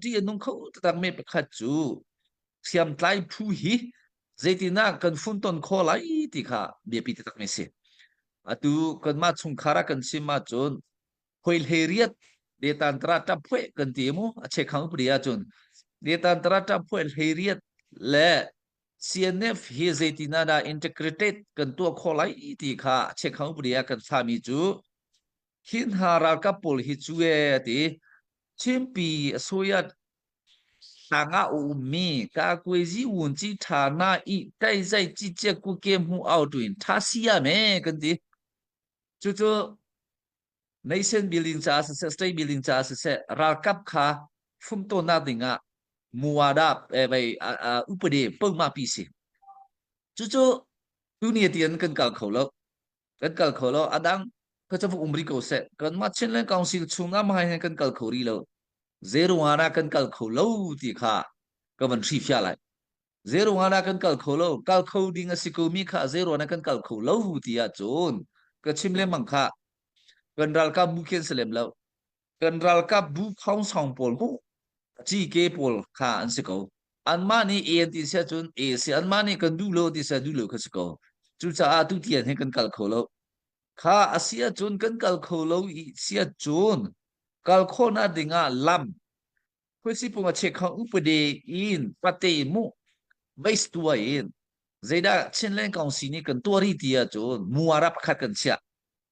ṭih a nung kho taktakmi pakhat cu hriamtlai phu hi zeitinah kan funton kho lai ti kha biapi taktakmi a si. Atu kanmah chungkhar ah kan sim ahcun hoi hlei riat detan tara ṭap phueh kan ti mu a chek hang pri ahcun detan tara ṭap phueh hlei riat le CNF hi zeitinah dah integrated kan tuah khawh lai ti kha a chek hang pri ah kan fahmi cu Hi hna ralkap pawl hi cu ee ti Chinpi a soyat tanga ummi ka kuezi wun chi tha na i kai zai chi che ku ke mu au tu in tha sia me kan ti chu chu nation building ca si se state building ca si se ralkap kha fum to na ding ah muada eh bai upade pengma pi si chu chu tu ni tian kan kal kho lo kan kal kho lo adang ka cavuk um ri ko seh kan mah chinland council chungah mai han kan kal kho ri lo zeruangana kan kal kho lo ti kha ka van hri fia lai zeruangana kan kal kho lo kal kho ding a si ko mi kha zeruana kan kal kho lo ti ah cun ka chim le mang kha kan ralkap mu khen selem lo kan ralkapbu khongsong pawl mu cike pawl kha an si ko anmah nih e an ti sia cun e si anmah nih kan duh lo ti sia duh lo kha si ko cucaah tu tian hin kan kal kho lo kha a sia cun kan kal kho lo i sia cun kal khona dingah lam khuisipung a chek khang upade in pate mu veistua in zeidah chinlen kaung si nih kan tuari tia cun muarap khat kan chia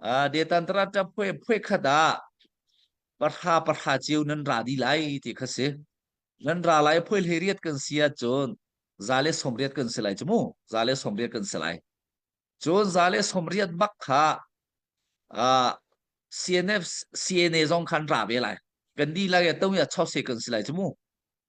Ah, detan taraca phuai phuai khat ah pahra pahra ceu nan ra di lai ti kha si. Nan ra lai phuai hlei riat kan si ahcun za le som riat kan si lai cu mu. Za le som riat kan si lai. Cun za le som riat bak kha ah CNF CNA zong khan ra ve lai. Kan di lai ya tong ya chau se kan si lai cu mu.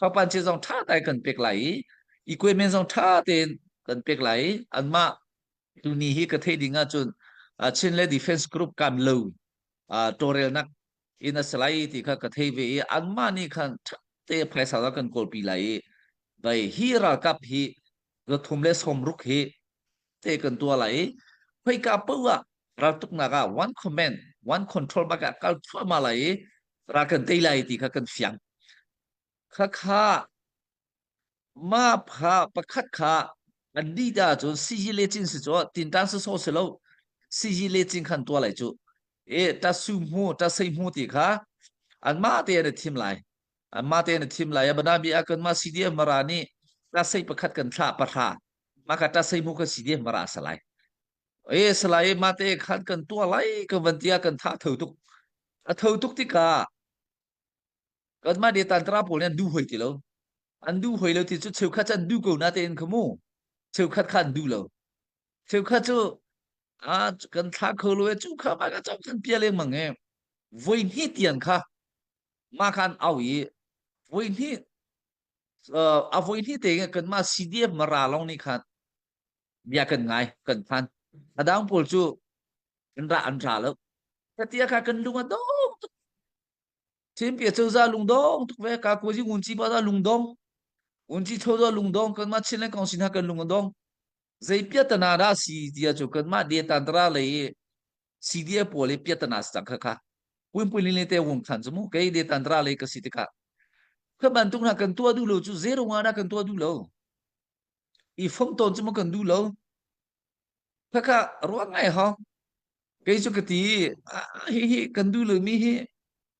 Thawngpang chia zong ṭha tein kan pek lai i equipment zong ṭha tein kan pek lai i anmah tuni hi ka theih ding ahcun uh, Chin le Defense Group kan lo uh, tawlrelnak in a si lai ti kha ka thei ve i anmah nih khan ṭha te phaisa zong kan kawlpi lai i vai hi ralkap hi zathum le sawmruk hi te kan tua lai i khoika po ah raltuknak ah one comment one control bak ah kal thluahmah lai i ra kan tei lai ti kha kan fiang khakha ma pha pakhat kha an di da cun siji le cin si cho tintan si so se lo siji le cin khan tua lai chu e ta su mu ta sei mu ti kha an ma te an thim lai Anmah tein a thim lai. Abana bi ah kan ma si dia mara ni ta sei pakhat kan thla pahra ma ka ta sei mu ka si dia mara salai. E salai ma te khan kan tua lai ka van tia kan tha thau tuk. A thau tuk tika kan ma de tan tra pol ne du hoi ti lo. An du hoi lo ti chu cheu khat an du ko na tein khamu. Cheu khat khan du lo. Cheu khat chu a kan thla kho lo chu kha ma ka chok kan pia le mang e. Voi ni tian kha mah kan au i voi hnih a voi hnih te kan mah CDF mara long ni khan bia kan ngai kan phan adang pawl cu kan ra an ra lo katia ka kan lunga dong tuk chempia choza lungdong tuk ve ka ko ji ngun chi ba da lungdong un chi thoza lungdong kan ma chinle kong sin ha kan lunga dong zei pia tana da si tia chu kan ma de tan tra le CDA pawl i piatana si cang kha kha puinpui lin le te wung khan chu mu kei de tantra le ka si tika kha bantuk na kan tua du lo chu zero nga na kan tua du lo i phong ton chu mu kan du lo kha kha ruang ngai ho kei chu ka ti hi hi kan du lo mi hi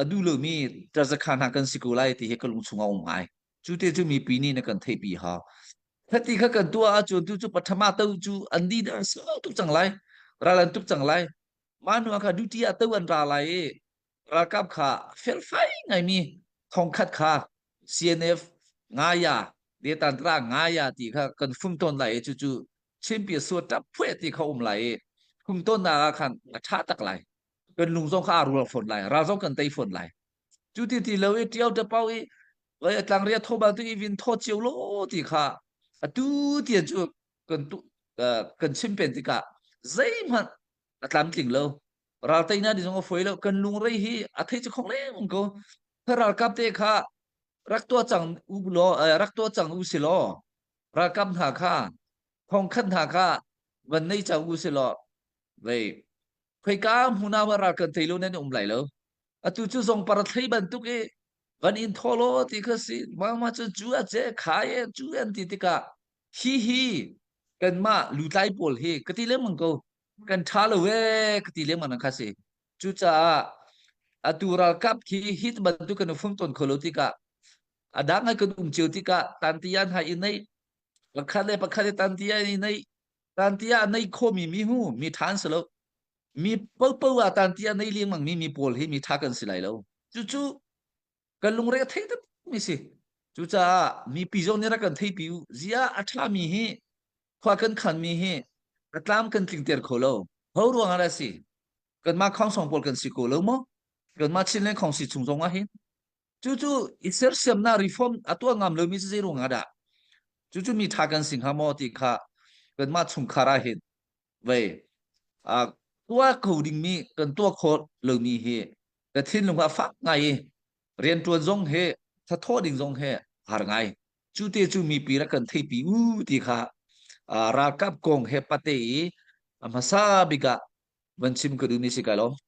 a duh lomi ṭazakha hna kan si ko lai ti hi ka lungchung a um ngai cu te cu mipi nih na kan theihpi ha hati kha kan tuah ahcun tu cu pathama to cu an di na so tuk cang lai ral an tuk cang lai manu kha duty a to an ra lai i ralkap kha felfai ngaimi thongkhat kha CNF ngaya detantra ngaya ti kha kan fum ton lai i cucu chimpia suat ṭap phuet ti kha um lai i fum ton na khan a ṭha tak lai kan lung zong kha a rual fawn lai ral zong kan tei fawn lai cu ti ti lo i tiau ta pau i vai atlang ria tho ba tu i vin tho chiu lo ti kha atu tian cu kan tu kan chim pen tikah zei hmanh atlam tling lo ral tei na di zong a foi lo kan lung rei hi a thei chu khong leng ko ralkap te kha rak tua chang u lo rak tua chang u si lo ralkap hna kha khong khan hna kha van nei chang u si lo vei khoika hmun ah ral kan thei lo nan um lai lo atu cu zong para thlei bantuk i van in tholo ti kha si mama cu cu a ce khai e cu an ti tikah hi hi kanmah lutlai pawl hi ka ti lengmang ko kan tha lo e ka ti lengmang kha si cucaah atu ralkap khi hit bantuk kan fung ton kholo tikah adang hai kan um cheu tikah tantiyan hai i nei pakhat le pakhat i tantiyan i nei tanti ah nei khomi mi hu mi than si lo mi popo a tanti ah nei liangmang mi mi pawl hi mi tha kan si lai lo cu cu kan lungre a thei tak mi si cucaah mi pi zong nih rak kan thei pi u zia a tha mi hi khwa kan khan mi hi ka tlam kan tling ter kho lo ho ruang ala si kan ma khong song pol kan si ko lo mo kan ma chin le khong si chung zong a hin Cucu i sersiamnak reform a tuah ngam lomi si zei ruang ah dah cucu mi ṭha kan si hnga maw ti kha kanmah chungkhar ah hin vei uh, tuah kho dingmi kan tuah kho lomi hi ka thinlung ah fak ngai i rianṭuan zong he thathaw ding zong he har ngai cu te cu mi pi rak kan theipi u ti kha uh, ralkap kong he pate i a hmasa bik ah van chim ka duh ni si kai lom